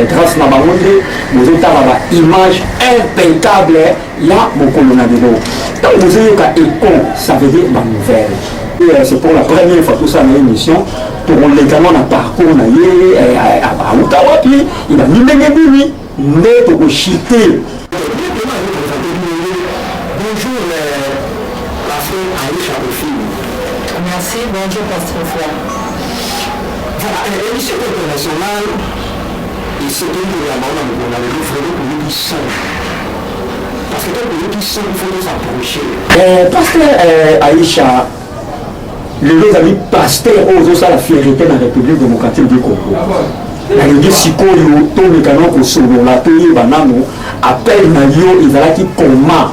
Grace na bango nde bozotala ba image impeccable ya mokolo na lelo ntango bozoyoka econ ça veut dire banouvelle euh, c'est pour la première fois tosala na émission tokolekana na parcours na ye euh, euh, auta wapi ebandi ndenge nini nde tokoshite Bonjour, la fée Aïcha Bonjour, Pasteur Fouad. Voilà emission internationale esengeli koyamba ona mokolo na lelo vraiment toyoki son parce que tant toyoki son il faut nous approcher eh, pasteur eh, Aïcha lelo ezali pasteur oyo ozosala fierité na république démocratique du congo nalingi sikoyo toleka na kosolola toyeba nano appel na yo ezalaki koma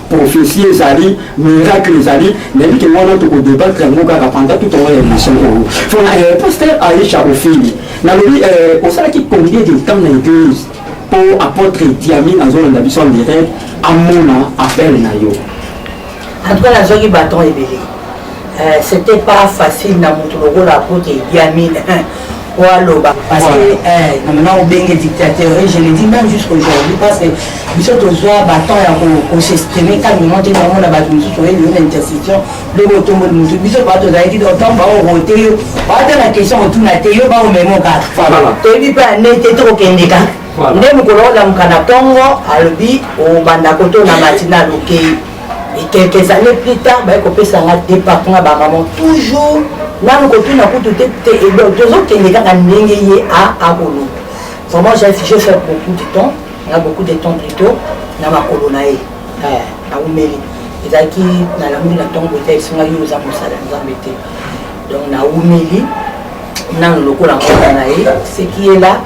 prophetie ezali miracle ezali nayebi ke wana toko debattre yango kaka pendant tout tongo ya émission oyo fona eh, pasteur aisha ofili nalobi eh, osalaki combien de temps na église mpo apôtre diami azolanda biso en direct amona appel na yo en tout cas nazwaki baton ebele Eh, c'était pas facile na moto lokola apote idiami oaloba parce que eh, namana obenge dictateur et je le dis même jusqu'aujourd'hui parce que biso tozwa batemp ya kosestime calmement te bango na bato mosusu oyeli yo na intercession loko otomboli motu biso baa tozalaki otango baorote yo baata na question otuna te yo baomemo kaka toyebi mpe ane te tokokende kaka nde mokolo olamuka na ntongo alobi obanda koto na matinal okei Et quelques années plus tard, baye kopesa nga départ nga ba maman toujours nanu kotuna kutu te te et donc tozokende kaka ndenge ye a akoloba vraiment j'ai je fais beaucoup de temps na beaucoup de temps plutôt na makolo na ye naumeli ezalaki nalambi na ntongo te esinga yo oza mosala nzambe te donc naumeli nanu lokola mwana na ye seki ye la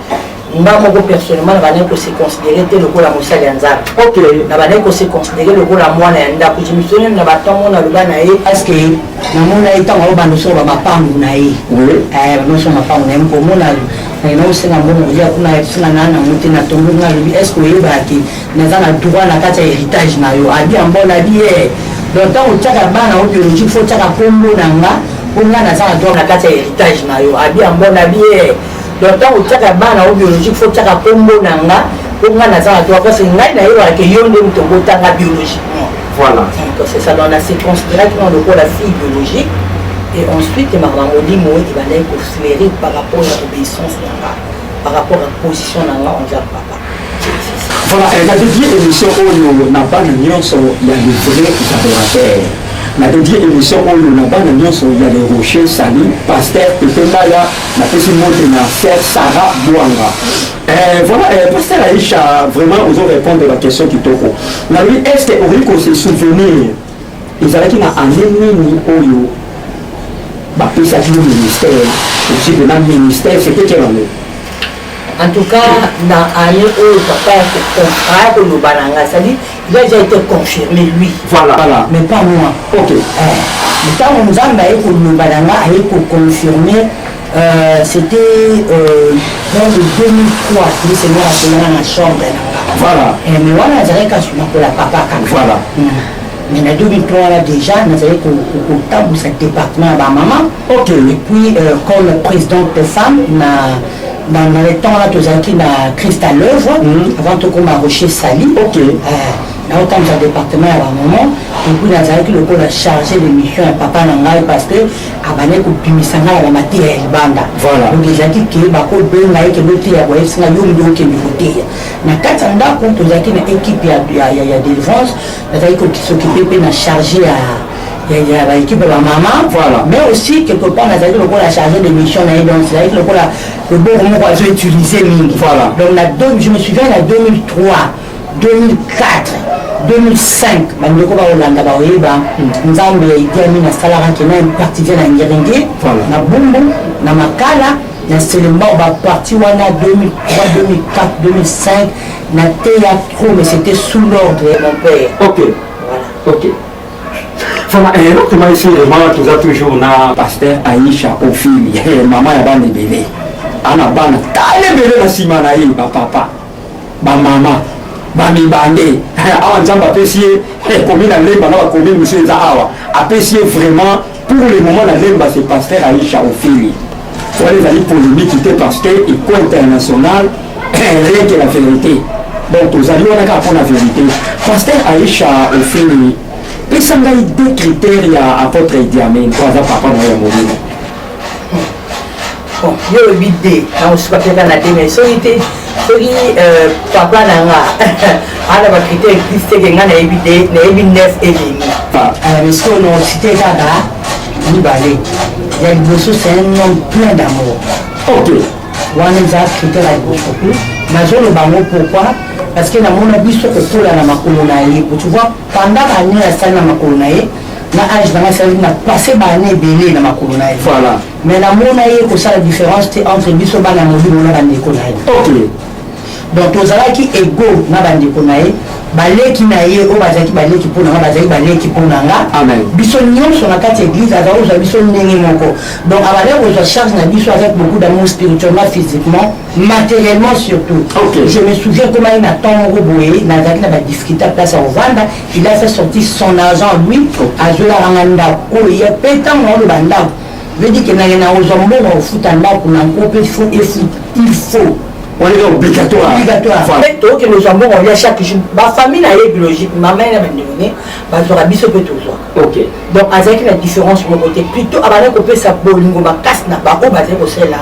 nga moko personnellement nabandaki ko se considere te lokola mosali ya nzambe okay. nabandaki ko se considere lokola mwana ya ndako jimisoni na bato mona aloba na ye parceke namona ye ntango aobanda osoba mapangu na ye eh, bamasa mapangu na ye mkomona na osenga mbongo olia kuna singa na nango te na tondo nga alobi est ce que oyebaki naza na droit na kati ya héritage na yo abi yango nabi ye eh. donc ntango otyaka bana o biologique fo otyaka nkombo na nga mpo nga naza na droit na kati ya héritage na yo abi yango nabi ye eh. donc ntango otiaka bana na yo biologique fo otiaka nkombo na nga mpo ngai naza na droit parce ngai nayebaka ke yo nde moto obotanga biologiquement voilà donc c'est ça donc na se considéraki na lokola fille biologique et ensuite makambo molimo ebandaki kofleuri par rapport ya obéissance na nga par rapport ya position na nga envers papa Voilà, eh, na dédié émission oyo na bana nyonso ya les vrais adorateurs. Na dédié émission oyo na bana nyonso ya les rochers sali pasteur Pepe Mbaya na pesi mbote na sœur Sarah Bwanga. Eh, voilà, eh, pasteur Aïcha, vraiment ozo répondre ba question kitoko. Na lui est-ce que okoki ko se souvenir Ezalaki na annee nini oyo bapesaki yo ministère okipe na ministère c'était quelle année En tout cas, dans année où papa a contrat, que nous balanga, ça dit, il a déjà été confirmé, lui. Voilà. voilà. Mais pas moi. Ok. Eh. ntango nzambe aye koloba na nga aye koconfirme Euh, c'était euh, dans le 2003 nde seigneur akolana na chambre na nga voilà eh, mais wana azalaki kasi nakola papa kaka voilà mm. mais na 2003 wana déjà nazali kotambusa département ya bamama ok et puis euh, comme présidente de femme na dans, dans le temps wana tozalaki na christ à l'œuvre mm. avant tokoma rocher sali ok euh, naotambusa département ya bamama et puis nazalaki lokola chargé de mission ya papa na ngai parce que abandaki kobimisa ngai ya na mateya ya libanda donc ezalaki ke bakobenga ye kende oteya boyebisi ngai yo nde okende koteya na kati ya ndako tozalaki na ekipe ya délivrance nazalaki kosokipe mpe na charge ya ya baekipe ya bamama mais aussi quelque part nazalaki lokola charge de mission na ye donc ezalaki lokola loboko moko azo utilise mingi donc je me souviens na 2003 2004 2005 bandeko bakolanda bakoyeba nzambe ya idi amin asalaka ke na impartitie na ngerenge na bumbu na makala na selembao baparti wana 2003 2004 2005 na teya trop mais c'était sous l'ordre ya mon père ok voilà. ok fana eh, elokima esi vraiment toza toujours na pasteur aisha ofili eh, mama ya bana ebele ana bana tala ebele na nsima na ye bapapa ba mama ba mibande awa nzambe apesi ye eh, komi na lemba na bakomi mosu eza awa apesi ye vraiment pour le moment na lemba se pasteur aisha ofili wana ezali polémique te parce que eko international rien que la vérité donc tozali wana kaka mpo na vérité pasteur aisha ofili pesa ngai deux critères ya apôtre idiamen mpo aza papa na yo ya molimo bon yo olobi de nakosuka mpe kaka na de mai soki te soki euh, papa na nga ana bakritere eglise teke nga nayebi de nayebi nef elemi miskono ah. euh, site kaka mibale ya liboso c'est un homme plein d'amour ok wana eza kritere ya liboso nazoloba yango pourquoi parce que namona biso kokola na makolo na ye tu vois pendant bannio asali na makolo na ye na age nanga esalaki na passe baane ebele na makolo na ye voilà Mais na mona ye kosala difference te entre biso bana ya mobimo na bandeko na ye okay. donc tozalaki ego na bandeko na ye baleki na ye oyo bazalaki baleki mpo na nga bazalaki baleki mpo na nga biso nyonso na kati ya eglise azali kozwa biso ndenge moko donc abandaki kozwa charge na biso avec beaucoup d'amour spirituellement physiquement matériellement surtout okay. je me souviens komaki na temps moko boye nazalaki na badifficulté place ya kovanda il a fait sorti son argent lui azwelaka nga ndako oyo ye mpe ntango naoloba ndako Vedi que naye na ozwa mbongo ya kofuta ndako na nko mpe fo efuta il faut oleka obligatoire obligatoire tokende ozwa mbongo olia chaque jour bafamille na ye biologique mama ye na bandeko ne bazwaka biso mpe tozwa ok donc azalaki na différence moko te plutôt abanda kopesa bolingo makasi na baoyo bazali kosalela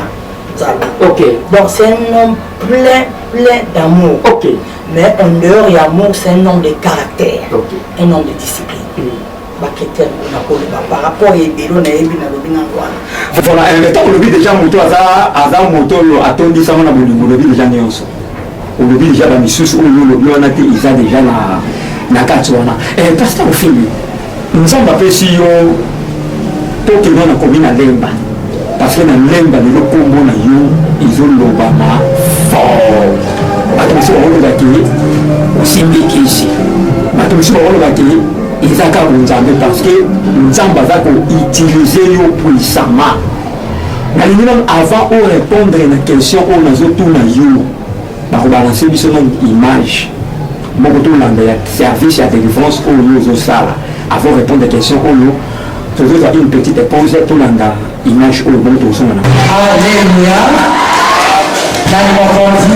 nzambe ok donc c'est un homme plein plein d'amour ok mais en dehors ya amour c'est un homme de caractère okay. un homme de discipline mm. bakritere mpona koloba par rapport ya ebelo nayebi nalobi nano wana voilà eh, ntango olobi deja moto aza moto oyo atondisama na bolingo olobi deja nyonso olobi deja bamisusu oyo olobi wana te eza deja na kati wana eh, pasteur ofili nzambe apesi yo tokende na komi na lemba Parce que na lemba lelo kombo na yo ezolobama fort bato mosusu bakoloba ke osimbi kisi bato mosusu bakoloba ke eza kaka nzambe parce que nzambe aza koutilize yo puissamment nalingi nano avant orépondre na question oyo nazotuna yo bakobalanse biso na image moko tolanda ya service ya délivrance oyo ozosala avant répondre question oyo tozozwa une petite pause tolanda image oyo bongo tokosonga na alleluia nani mokonzi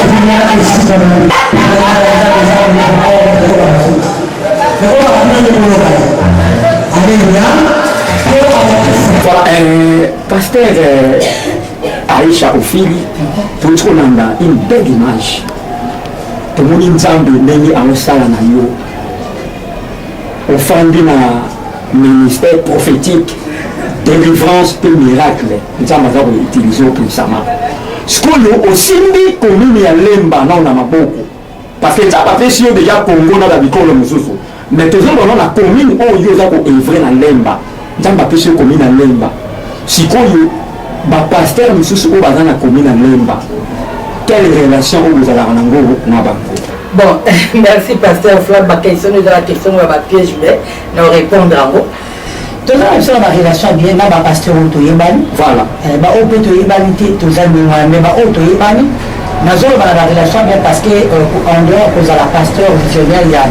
kuna esika na Pasteur, Aisha Ofili toyoti kolanda une belle image tomoni nzambe ndenge aosala na yo ofandi na ministère prophétique délivrance mpe miracle nzambe aza koutilize opesama sikoyo osimbi komini ya lemba nao na maboko Parce que Nzambe apesi yo deja Congo na bikolo mosusu, mais tozo mona na commune oyo yo oza ko evre na Lemba, Nzambe apesi yo commune na Lemba. Sikoyo ba pasteur mosusu oyo baza na commune na Lemba, quelle relation oyo bozalaka na ngo na bango? Bon, merci pasteur Flav, ba question ezala question ya ba piège mais na répondre yango. toza na biso na barelation bien na bapasteur oyo toyebani voilà eh, baoyo mpe toyebani te toza ndenge wana mai baoyo toyebani nazoloba na barelation bien parce que euh, en dehors kozala pasteur visionnaire ya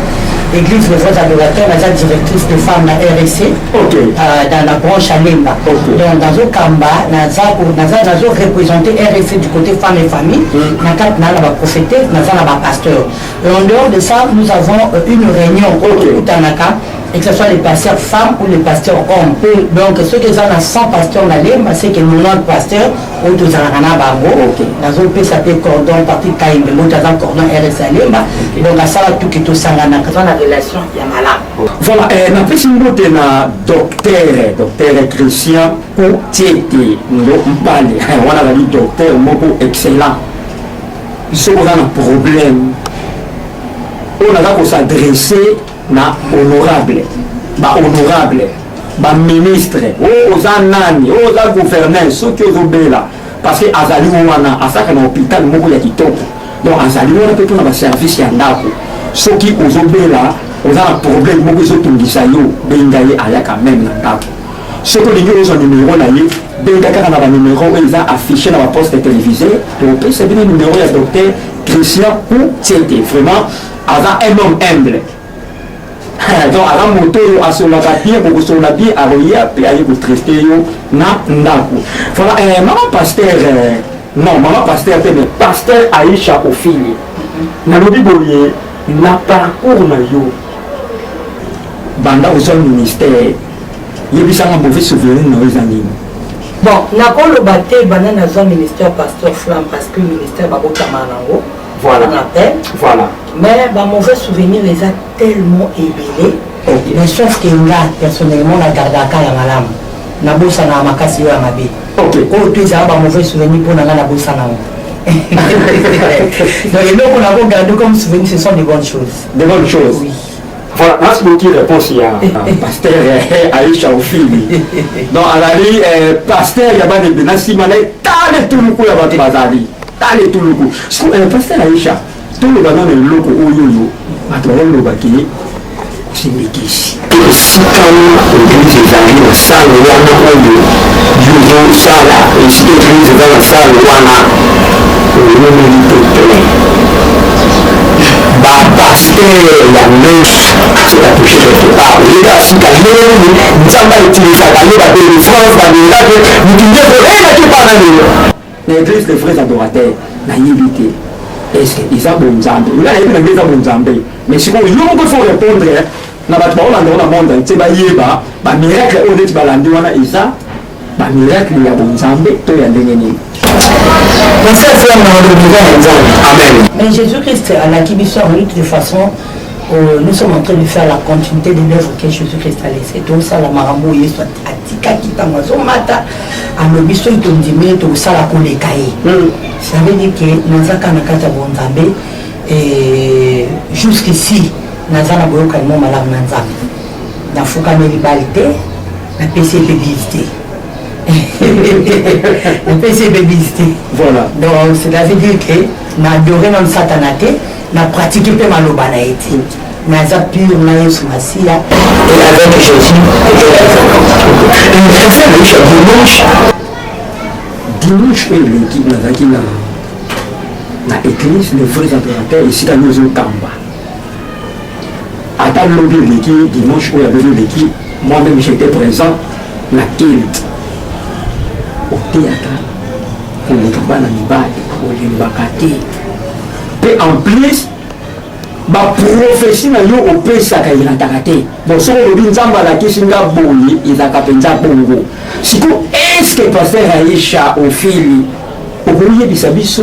église les vrais adorateurs naza directrice de femme na rsc okay. euh, dans la branche ya lemba okay. donc nazokamba nazoreprésente rsc du côté femme et famille mm. na kati naa na baprofete naza na bapasteur en dehors de ça nous avons euh, une réunion oyo tokutanaka okay. que ce soit les pasteurs femmes ou les pasteurs hommes mm. donc soki eza na 100 pasteur na lemba c'est que 90 pasteur oyo tozalaka na bango nazopesa mpe cordon patrick kayembe mboto aza cordon rs ya lemba donc asala tuki tosanganaka aza na relation ya malamu oh. voilà eh, napesi mbote na docteur docteur christian otiete ndo mpale eh, wana azali docteur moko excellent soki oza na problème oyo naza kosadresse Na honorable, ba honorable, ba ministre, oh oza nani, oh oza gouverneur, soki ozobela parce que azali wana asaka na hôpital moko ya kitoko. Donc azali wana pe pona ba service ya ndako. Soki ozobela oza na problème moko ezotungisa yo, benga ye ayaka meme na ndako. Soki olingi ozwa numero na ye, benga kaka na ba numero oyo eza affiche na ba poste télévisé, topesa bino numero ya docteur Christian Kutete. Vraiment aza un homme humble donc aza moto oyo asololaka bien bokosolola bien akoya mpe aye kotraite yo na ndako voilà eh, mama pasteur eh, non mama pasteur te mais pasteur aisha ofili nalobi boye na parcours na yo banda ozwa ministère yebisanga mauvais souvenir na yo eza nini bon nakoloba te banda nazwa ministère pasteur flam parce que ministère babotamaka nango voilà. on appelle voilà. mais ba mauvais souvenir eza tellement ebele okay. mais sauf que nga personnellement na gardaka ya malamu nabosanaka makasi oyo ya mabe okay. oyo to ezala ba mauvais souvenir mpo na nga nabosana yango donc eloko nakogarde comme souvenir ce sont des bonnes choses des bonnes choses oui. Voilà, merci beaucoup réponse ya pasteur Aisha Ofili. Donc azali pasteur ya bana ebele na nsima na ye tala etuluku ya bato bazali tala etuluku siko pasteur Aisha toloba nano eloko oyo oyo bato baoloba ke simikisi esika eglise ezali na sale wana oyo yozosala esika eglise eza na sale wana olomeli te plein ba pasteur ya ndoki soki atouche quelque part oyeba afrika lelo nini nzambe autilisaka yo ba délivrance ba miracle moto nde koyebaki epa na lelo na église de vrais adorateur nayebi te eske eza bonzambe nga nayebi na ngai eza bonzambe mais sikoyo yo moko fo répondre na bato baolanda ona monde nse bayeba bamiracle oyo neti balandi wana eza Ba miracle ya bonzambe to ya ndenge nini? Merci vraiment na okokuta ya Nzambe. Amen. Mais Jésus-Christ alaki biso en lutte de façon euh, nous sommes en train de faire la continuité de l'œuvre que Jésus-Christ a laissé. Tosala makambo oyo Yesu atikaki ntango azomata alobi soki tondimi ye tokosala koleka ye. Hmm. Ça veut dire que naza kaka na kati ya bonzambe et jusqu'ici naza na boyokani mwa malamu na Nzambe. Nafukameli bali te napesi ye mpe bise te napesi ye mpe bise te voilà donc c'est à dire que na adore nanu satana te na pratique mpe maloba na ye te naza pure na yesu masiya et avec jésus dimanche dimanche oyo eleki nazalaki na na église le vrai impérateur esika nozokamba Ata lobi eleki dimanche oyo ya lobi eleki, moi-même j'étais présent na kilt oteyaka koleka bana mibali olembaka te mpe en plus baprofesi na yo opesaka elataka te bon soki olobi nzambe alakisi nga boye ezalaka mpenza bongo siko eske paster aisha ofili okoyebisa biso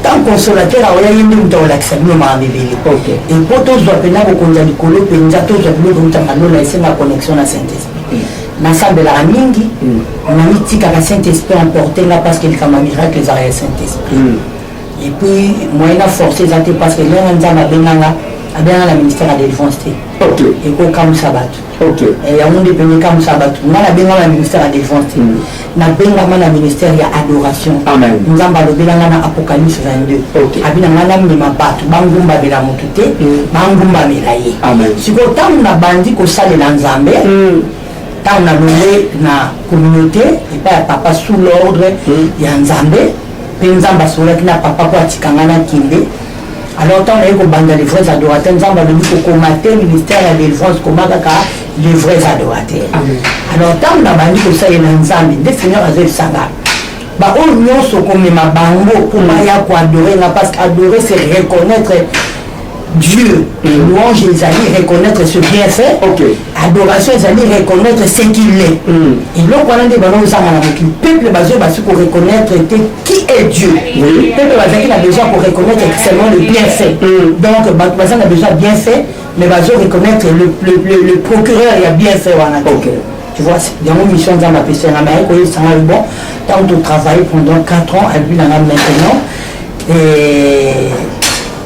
ntango consolateur aoya ye nde moto akolakisa bino makambo ebele e mpo tozwa mpenza bokonzi ya likolo mpenza tozwa biloko eutaka lola esenga connexion na saint esprit mm. nasambelaka mingi mm. namitikaka saint esprit emporte nga parce que likambo ya miracle ezaka ya saint esprit mm. et puis moyen na force eza te parce que ndenge nzambe abenganga abenganga na ministère ya délivrance te ekokamwisa bato Ok. Eh, yango nde pene ekamwisa bato nga nabengama na ministère ya défense te nabengama na ministère ya adoration Amen. nzambe alobela nga na apocalypse 22 Ok. abi na nga namema bato bangumbamela motu te bangumbamela ye Amen. sikoyo ntango nabandi kosalela nzambe ntango nalonge na communauté epai ya papa sous l'ordre ya nzambe mpe nzambe asololaki na papa mpo atika nga nakende Alors tant naye kobanda les vrais adorateurs nzambe alobi kokoma te ministère ya délivrance koma kaka les vrais adorateurs alors ntango nabandi kosalela nzambe nde seigneur azoyebisanga baoyo nyonso komema bango mpo baya koadore nga parce que adorer c'est reconnaître dieu mm. louange ezali reconnaître ce bien fait okay. adoration ezali reconnaître ce qu'il est eloko wana nde bana ozanga na mokili peuple bazo basi ko reconnaître te qui est dieu peuple bazalaki na besoin ko reconnaître seulement le bien fait donc bato baza na besoin bien fait mais bazo reconnaître le, le, le, le procureur ya bien fait wana te okay. tu vois yango mission nzambe apesa yanga naye koyebisanga yo bon ntango totravaille pendant 4 ans albi nanga maintenant et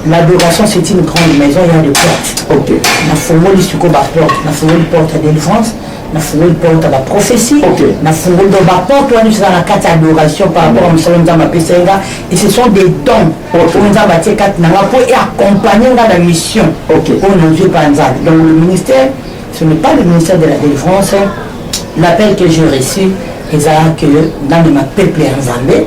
L'adoration c'est une grande maison, il y a des portes. Okay. nafungoli sikoyo baporte nafungoli porte ya délivrance nafungoli porte ya baprophétie okay. nafungoli donc baporte wana eza na kati ya adoration par rapport ya mosala nzambe apesai nga et ce sont des dons oyo okay. nzambe atie kati na nga mpo eaccompagne nga na mission oyo okay. nazwi epai ya nzambe donc le ministère ce n'est pas le ministère de la délivrance l'appel que j'ai reçu eza que ndamema peuple ya nzambe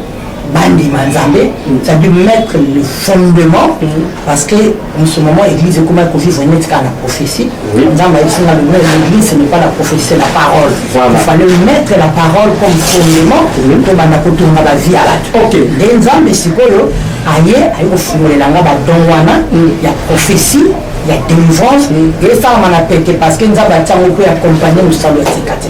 bandima nzambe ça dû mettre le fondement parce que en ce moment église ekoma kovivre neti kaka na prophétie nzambe ayebisinga lona l'église ce n'est pas la prophétie c'est la parole il fallait mettre la parole comme fondement tobanda kotonga bavie ya bato nde nzambe sikoyo aye aye kofungolela nga badon wana ya prophétie ya délivrance esalama na pete parce que nzambe atiango mpo ya accompagne mosalo ya sika te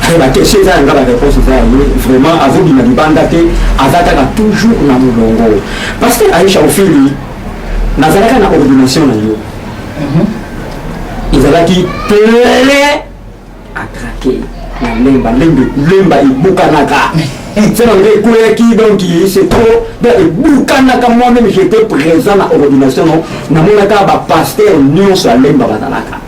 Très ba question eza yanga ba réponse eza yango vraiment azobima libanda te aza kaka toujours na molongo parce que Aisha Ofili nazalaka na ordination na yo mhm. ezalaki plein à craquer na lemba lembe lemba ebukanaka sena nde ekweyaki donc c'est trop donc ebukanaka moi-même j'étais présent na ordination namonaka bapaster nyonso ya lemba bazalaka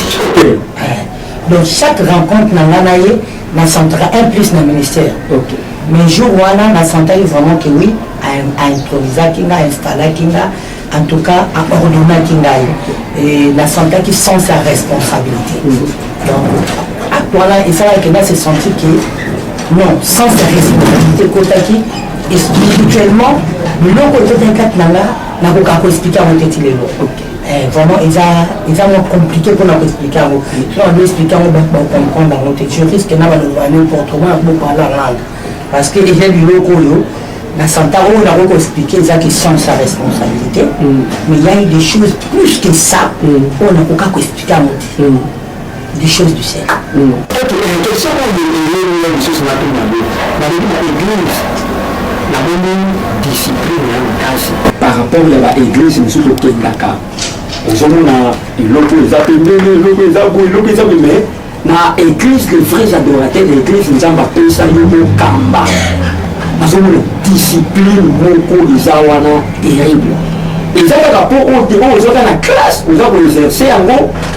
donc chaque rencontre na nga na ye nasentaka un plus na ministère okay. mais jour wana nasentaki vraiment que oui aimprovisaki nga ainstallaki nga en tout cas aordonnaki ngai et nasentaki sens ya responsabilité mm. donc acte wana esalaki nga se senti que non sens ya responsabilité ekotaki spirituellement biloko ekotaki kati na nga nakoka koexplike yango te ti lelo Eh, vraiment eza eza mwa compliqué mpona koexplike yango soki ado explike yango bato bacomprendre yango te tu risque na baloba ya n'importe moi na kobopala langa parce que eza biloko oyo na santa oyo nakoki koexplike eza ke sans sa responsabilité mm. mais ya des choses plus que ça mm. oyo nakoka koexplike yango te mm. du chose du ciel oke question oyo eleli ya lisusu natuna yango balobi na église namoni discipline ya makasi par rapport ya baeglise mosusu okendaka ozomona eloko eza pembeni eloko eza boye eloko eza boye mais na église le vrai adorateur ya église nzambe apesa yo mokamba nazomona discipline moko eza wana terrible eza kaka mpo oyo te oyo ozwaka na classe oza koexerce yango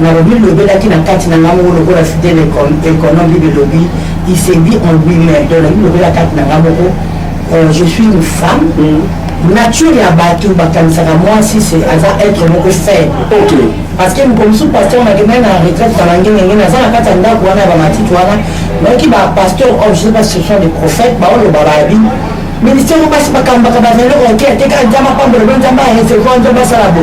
Nalobi lobelaki na kati na nga moko lokola site na ekono bible elobi il se dit en lui même donc nalobi lobela kati na nga moko euh, je suis une femme mm. nature ya bato bakanisaka mwasi aza être moko faible okay. parce que mokolo mosusu pasteur nakendaki na retraite na bangengengene aza na kati ya ndako wana ya bamatiti wana nayoki bapasteur oyo oh, je sais pas ce sont des prophètes baoloba babi ministère oyo basi bakambaka bazali oke ateka nzambe apambola bo nzambe aresevoir nzambe asala bo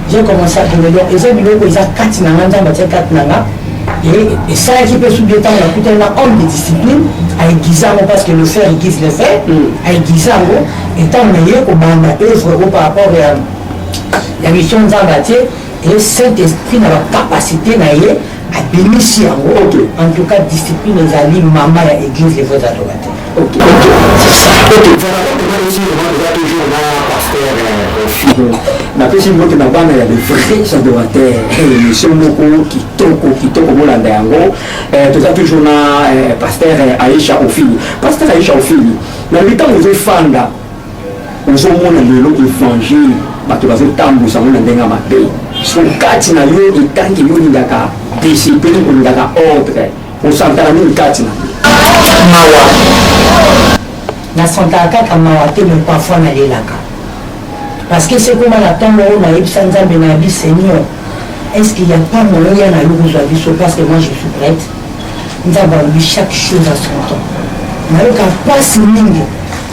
J'ai commencé à tomber donc eza biloko eza kati na nga nzambe atia kati na nga et esalaki mpe subi ntango nakutani na homme de discipline aiguise yango parce que le fer aiguise le fer aiguise yango etango naye kobanda œuvre o par rapport ya ya mission nzambe atie et saint esprit na bacapacité na ye abimisi yango en tout cas discipline ezali mama ya église les vrais adorateurs napesi mbote na bana ya bevrais adorateur emission moko kitoko kitoko bolanda yango eh, toza toujours na eh, paster eh, aisha ofili paster aisha ofili na mitango ezofanda ozomona lelo evangile bato bazotambusa yango na ndenge ya mabe so kati na yo etangi yo olingaka discipline olingaka ordre Osantaka nini kati na mawa? Nasantaka kaka mawa te, mais parfois nalelaka parce que soki ekoma na temps oyo nayebisa Nzambe na bi Seigneur, est-ce qu'il y a pas moyen ya na yo kozwa biso parce que moi je suis prête. Nzambe alobi chaque chose à son temps. Nayoka pasi mingi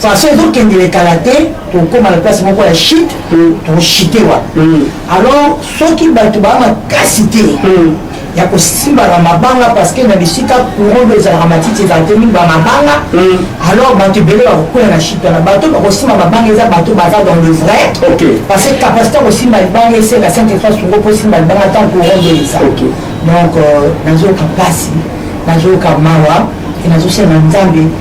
façon ezokendele kala te tokóma na place moko ya chute tokochute hmm. wana hmm. alors soki bato baa makasi te hmm. ya kosimbaka mabanga parce que na bisika courant do ezalaka matiti ezala te mingi bamabanga alors bato ebele bakokula na chute wana bato bakosimba mabanga eza bato baza dans le vrai parce que capacité ya kosimba libanga esenga sainte efrance ngo mpo osimba libanga ntango courant do eza donc euh, nazoyoka mpasi nazoyoka mawa e nazosenga nzambe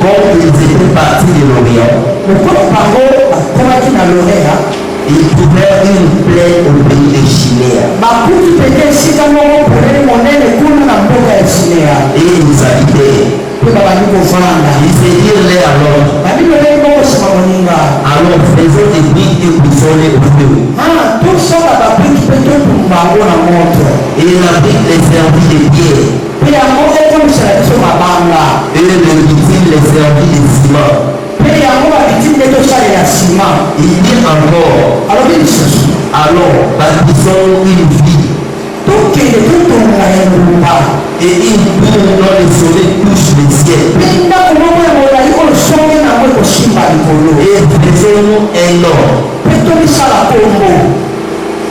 Comme ils etaient partis de l'Orient, lokola bango bakomaki na Lorea, ils trouvèrent une plaine au pays de Shinea, bakuti mpenza esika moko polele monene kuna na mboka ya Shinea, et ils nous habitaient. mpe babandi kovanda. Ils se dirent l'un à l'autre, Babino lolenge bokosima moninga, Allons, faisons des briques et brûlons-les au feu. ah, tosala babriki mpe totumba yango na moto. Et la brique les servit de pierre, Mpe yango ekomisela biso mabanga. Et les victimes les servit de ciment. Mpe yango ba-victime nde tosalela sima. Il dit encore. Alobi lisusu. Allons, bâtissons une ville. Tokende totonga engumba. Et une tour dont le sommet touche le ciel. Mpe ndako moko ya molai oyo songe na yango ekosimba likolo. Et faisons-nous un nom. Mpe tomisala nkombo.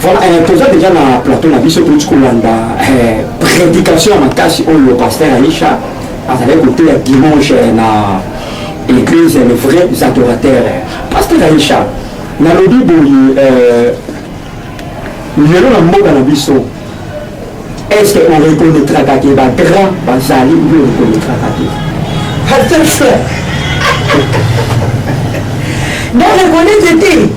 Voilà, eh, toza deja na plateau na biso touti kolanda eh, prédication ya makasi oyo pasteur aisha azalaki koteya dimanche na église le vrai adorateur pasteur aisha nalobi boye eh, lelo na mboka na biso est ce que on reconnaîtraka te bagrand bazali obi reconnaîtraka te pasteur frère na reconnaître te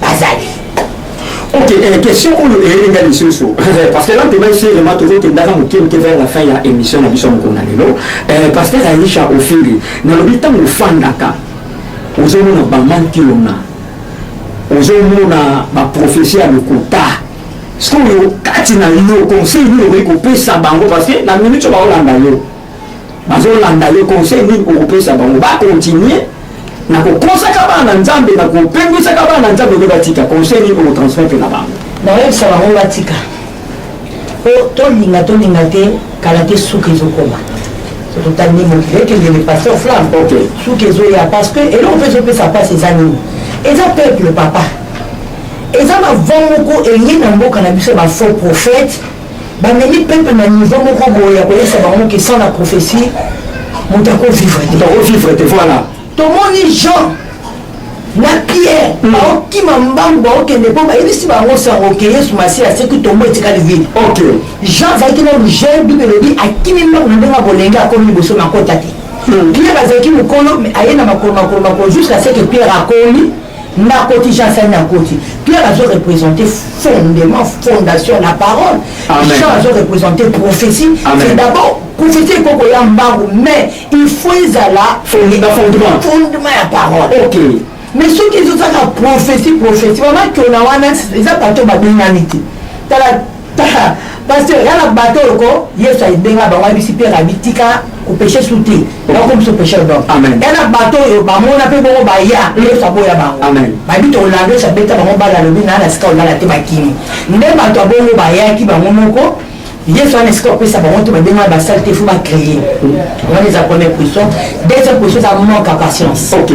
bazali ok eh, question oyo eyeli ngai lisusu parce que lantema esirema tozokendaka moke moke vers la fin ya émission na biso mokolo na lelo eh, pasteur aisha ofiri nalobi ntango ofandaka ozomona bamantilona ozomona baprofesi ya lokuta sikoyo kati na yo conseil nini okoki kopesa bango parce que na minute bakolanda yo bazolanda yo conseil nini okopesa bango ba continuer na kokosaka bana nzambe na kopengwisaka bana nzambe nde batika conseil nini okotransmettre na bango nayebisa bango batika po tolinga tolinga te kala te suka ezokoma totali nde mokili ekende le pasteur flamme suka ezoya parce que eloko mpe ezopesa mpasi eza nini eza peuple papa eza bavon moko eye na mboka na biso ya bafaux prophète Ba memi peuple na niveau moko boye ya koyesa bango ke sans la prophetie moto ako vivre te. Ako vivre te voilà. Tomoni Jean na pierre mm. baokima mbangu baokende mpo bayebisi bango sango ke yesu masiya aseki tombo etikali vide jean azalaki na lugel bible elobi akimi mbangu na ndenge ya bolenge akomi liboso makota te mm. pierre azalaki mokolo aye na makolo makolo makolo jusqu'à ce que pierre akomi nakoti jean sani akoti pierre azo représente fondement fondation la parole jean azo représente prophétie c'est d'abord prophétie ekoki koya mbangu mais il faut ezala fondement ya parole okay. mais soki ezozaka prophétie prophétie mama kiona wana eza bato babengani te tala Pasteur, y'a na bateau oko, Yesu abenga bango ayebisi Pierre abi tika ko péché sous te. Na ko biso péché donc. Amen. Y'a na bateau yo ba mona pe bongo ba ya, Yesu aboya bango. Amen. Ba bi to lando sa beta bango ba la lobi na na sika olala te ba kimi. Nde ba to bongo ba ya ki bango moko. Yesu ana sika opesa bango te ba benga ba salle te faut ba créer. Wana eza première position. Deuxième position ça manque à patience. OK.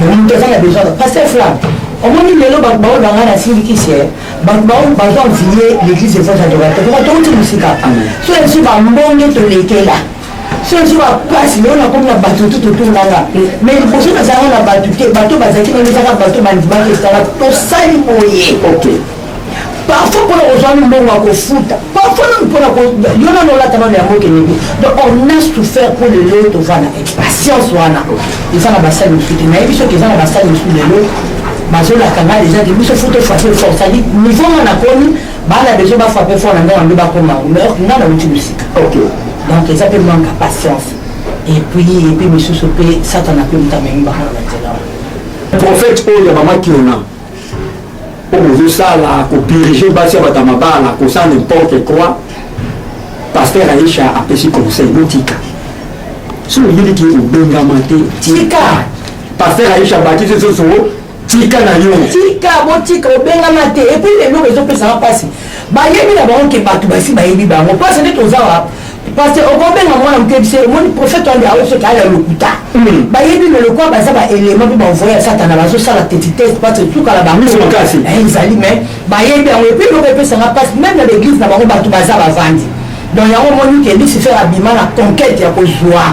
Mais nous devons la besoin. Pasteur Flam, omoni lelo bato baoyo banga na silikisi bato baoyo baza ovilie l'église des anges adorateur koma touti mosika so yebisi bambonge tolekela so yebisi bapasi lelo nakomi na bato tu totonganga mai liboso nazalaka na bato te bato bazalaki nano ezaka bato bandimaki esala tosali boye parfois mpona kozwa mbongo ya kofuta parfois nanu mpona yo nano olata nano yango okende donc on a souffert mpo lelo tovanda impatience wana eza na basali mosusu te nayebi soki eza na basali mosusu lelo bazolaka ngai deja te biso fo tofrape fort cetadi niveau ngo nakomi bana deja bafrape fort na ndenge yango bakoma yango mais ok ngai nauti mosika donc eza mpe manque ya patience epuis epuis misusu mpe satana mpe moto amemi bango na banzela prophète oyo ya mama kiona mpo bozosala kodirige basi ya bato ya mabala kosala nimporte quoi paster aisha apesi conseil botika so oyebi ke obengama te tika paster aisha bakisi soso tika na yo tika botika obengama te epuis eloko ezopesaka mpasi bayebi na bango ke bato basi bayebi bango mpasi nde toza wapi Pasteur okobenga mwana moke biso omoni prophète wana nde aoki soki aya lokuta bayebi me lokola baza ba élément mpe baenvoye ya satana bazosala tetitese parce etukala bango ezali mais bayebi yango epuis eloko epesanga mpasi meme na baeglise na bango bato baza bavandi donc yango omoni ke lucifer abima na conquête ya kozwa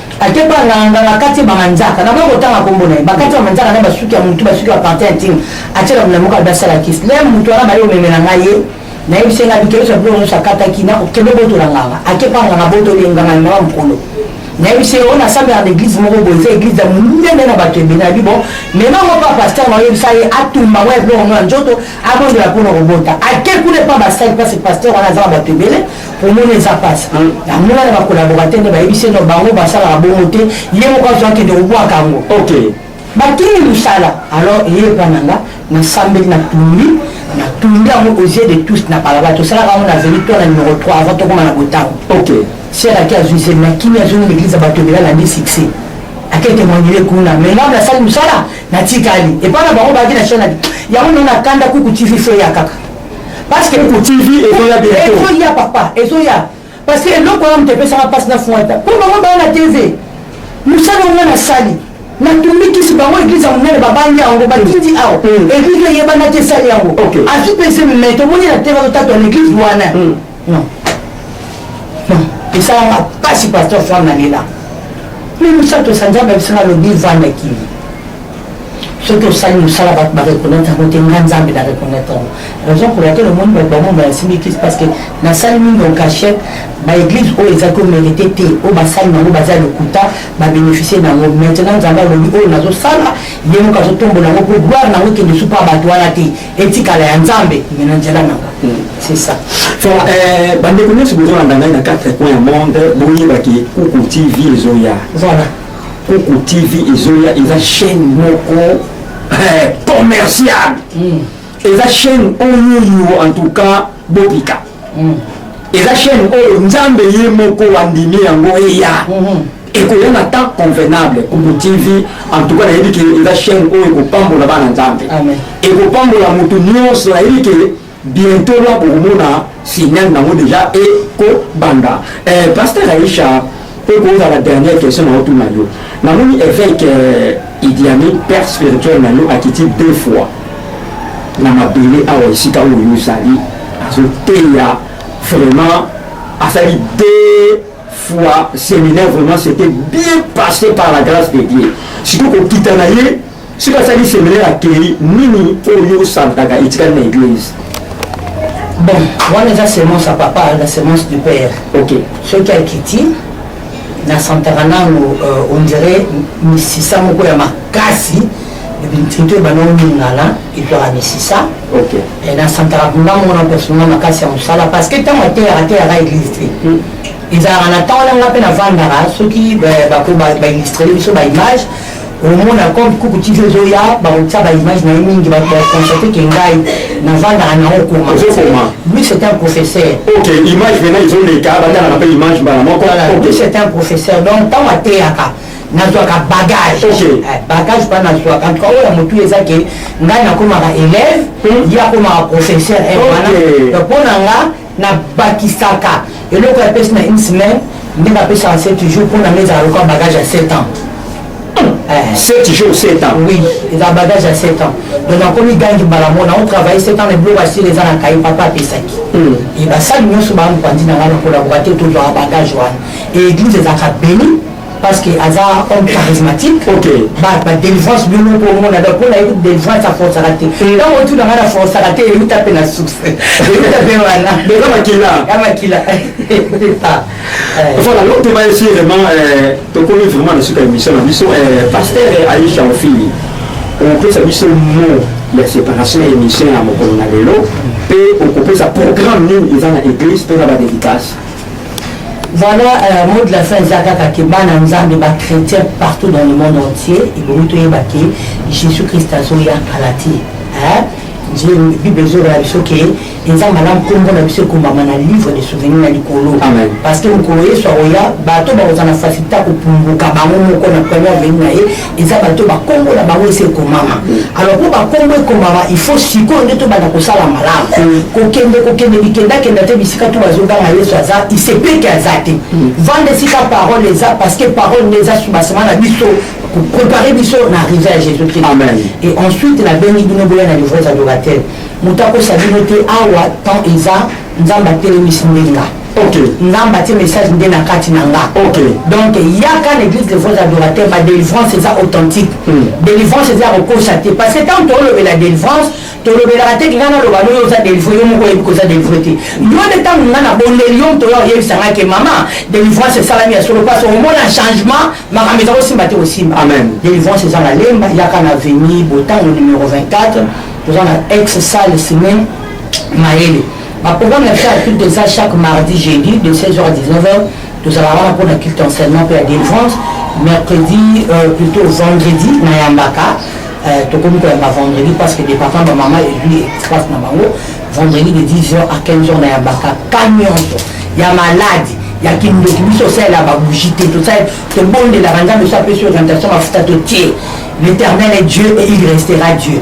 Ate ba nganga nganga kati ba manzaka na boko tanga kombo na ye ba kati ba manzaka na ba suki ya mutu ba suki ba parti intime atie na mulamuka ba sala kiss le mutu wana ba yo memela nga ye na ye bisenga bi kebisa bilo no sakata ki na kebe boto la nganga ake pa nganga boto le nganga na ba mukolo na ye bisenga ona sabe na eglise moko boye za eglise ya mulunde na ba kebe na bi bon me ma ngo pa pasteur ma ye bisa ye atumba wa bilo no njoto abondola pona kobota ake kule pa ba sali pa se pasteur wana za ba kebele omoni eza pasi yango wana ba collaborateur nde bayebisi no bango basalaka bongo te ye moko azo akende kobwaka yango ok bakimi mosala alors eye epa na nga nasambeli na tumbi na tumbi yango aux yeux de tous na balabala tosalaka yango na veli to na numero 3 avant tokoma na botango ok seraki azwi zeli na kimi azwi na eglise ya bato ebela na nde succès ake témoignele kuna mais ngambo nasali mosala natikali epai na bango baki na chaine yango nde na kanda kuku tv fe ya kaka parce que pour TV ezoya bientôt ezoya papa ezoya parce que eloko wana moto epesaka mpasi na fuata mpo bango baya na TV mosala onga nasali natumikisi bango eglize ya monene babangi yango batindi awa eglize eyebana te esali yango azwi pese mmeto omoni na te bazotatwa na eglize wana Non. Non. esalanga mpasi pasteur femme nalela mpe misato sanzambe abisanga lobi vanda kimi soki osali mosala bato bareconnaitre yango te nga nzambe na reconnaitre yango raison pour laquelle omoni bato bango bayasimbi kisi parce que nasali mingi en cachette baeglise oyo ezaki omérite te oyo basali nango baza lokuta babénéficie nango maintenant nzambe alobi oyo nazosala ye moko azotombola yango mpo gloire nango ekende supa bato wana te etikala ya nzambe me na nzela na nga hmm. c'est ça eh, bandeko nyonso bozolanda ngai na 4 coin ya monde boyebaki kuku tv ezoya voilà kuku tv ezoya eza chaîne moko eh, commercial hmm. eza chaîne oyoyo en tout cas bopika hmm. eza chaîne oyo nzambe ye moko andimi yango eya ekoya na temps convenable kubu tv en tout cas nayebi ke eza chaîne oyo ekopambola bana nzambe ekopambola motu nyonso nayebi ke bientôt la bokomona signal nango déjà ekobanda eh, pasteur aisha mpo ekozala dernière question na otuna yo namoni évêque eh, idiami père spirituel na yo akiti deux fois na mabele awa esika oyo ozali azoteya vraiment asali deux fois séminaire vraiment c'était bien passé par la grâce de Dieu surtout kokita na ye soki asali séminaire akei nini oyo osantaka etikali na église bon wana eza semence ya papa na semence du père ok soki akiti nasantaka nano euh, on dirait misisa moko ya makasi ntutu ebanda oningana etwaka misisa eh, nasantaka mpenza mona personal makasi ya mosala parce que ntango ateyaka ateyaka eglise te hmm. ezalaka na ntango na nga mpe navandaka soki eh, bako baillustrele biso baimage omona comme kuku tv ezoya bakotisa baimage na ye mingi baconstate ke ngai navandaka nango okoma lui c'est un professeur ok image vena ezoleka bandaka na mpe image mbala moko lui c'est un professeur donc ntango ateyaka nazwaka bagage okay. eh, bagage mpa nazwaka antuka oyo ya motu eza ke ngai nakomaka élève hmm? ye akomaka professeur eh, wana okay. donc mpo na nga nabakisaka eloko ya pesi na une semaine ndenge apesaka se toujours mpo na nga ezala lokola bagage ya 7 ans 7 eh. jours 7 ans oui eza bagage ya 7 ans donc nakomi gangi mbala mona o travaille 7 ans na biloko asili eza na kai papa apesaki hmm. basali nyonso baampanzi na ngai nakola koka te tozwaka bagage wana eglise ezalaka beni parce que aza homme charismatique ba délivrance bino moko omona donc mpona ye délivrance aforsaka te ntango otuna ngai na forsaka te euta mpe na source euta mpe wana eza makila ya makila voilà donc toba esi vraiment tokomi vraiment na suka émission na biso pasteur aisha ofili okopesa biso mot ya séparation ya émission ya mokolo na lelo mpe okopesa programme nini eza na église mpe na badédicace Voilà, euh, mot de la fin eza kaka ke bana nzambe ba chrétien partout dans le monde entier ebongi toyeba ke jésus christ azoya kala te bible ezoloba biso ke eza malamu nkombo na biso ekombama na livre de souvenir na likolo parce que mokolo yesu akoya bato bakozala na facilité ya kopunguka bango moko na première veni na ye eza bato ba kombo na bango esi ekomama alors mpo bakombo ekomama il faut sikoyo nde tobanda kosala malamu mm. kokende kokende bikendakenda te bisika to bazoganga yesu aza isepeke aza te mm. vanda esika parole eza parce que parole nde eza subasema na biso koprepare biso na arrive ya jésus christ et ensuite nabengi bino boya na livres adorateur moto akosa bino te awa temps eza nzambe atelemisi ndenge Okay. nzambe atie message nde na kati na nga okay. donc yaka na église de vos adorateur ba délivrance eza authentique mm. délivrance eza ya kokosa te parce que ntango toolobela délivrance tolobelaka te kinga naloba no yo oza délivré yo moko oyebi koza délivré te yo nde ntango nga na bondeli yo moto oya oyebisa nga ke mama délivrance esalami ya solo mpasi omona changement makambo eza kosimba te kosimba délivrance eza na lemba yaka na veni botango numero 24 toza na ex salle semaine mayele Ba programmes na biso ya culte eza chaque mardi, jeudi de 16h à 19h. Tozalaka wana mpo na culte enseignement mpe ya délivrance. Mercredi, euh, plutôt vendredi, nayambaka. Euh, tokomi koyamba vendredi parce que département ba mama ezwi espace na bango. Vendredi de 10h à 15h nayambaka ka nyonso ya maladi ya kindoki biso osalela babougie te tosali tobondelaka nzambe so apesi orientation mafuta totie l'éternel est dieu et il restera dieu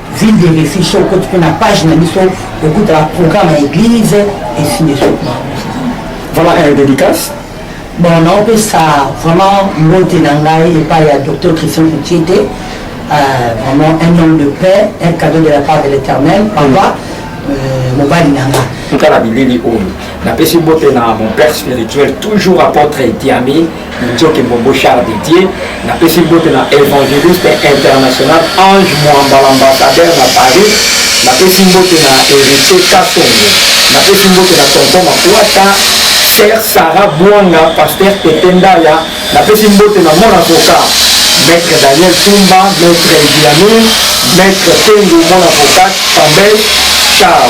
Ville de refuge soki okoti mpe na page na biso okutaka programme ya église ainsi de suite Voilà un dédicace. bon naopesa vraiment mbote na ngai epai ya docteur christian kutiete euh, vraiment un homme de paix un cadeau de la part de l'éternel papa euh, mobali na ngai Tala bilili oyo. Napesi mbote na mon père spirituel, toujours apôtre Etiami, Njoke Mbombo Charles de Dieu na pesi mbote na evangeliste international Ange Mwamba l'ambassadeur na Paris na pesi mbote na Heritier Kasongo na pesi mbote na Tonton Makwata Sœur Sarah Bwanga Pasteur Tete Ndaya na pesi mbote na mon avocat Maître Daniel Tumba Maître Idiamir Maître Tengu mon avocat Tambel Ciao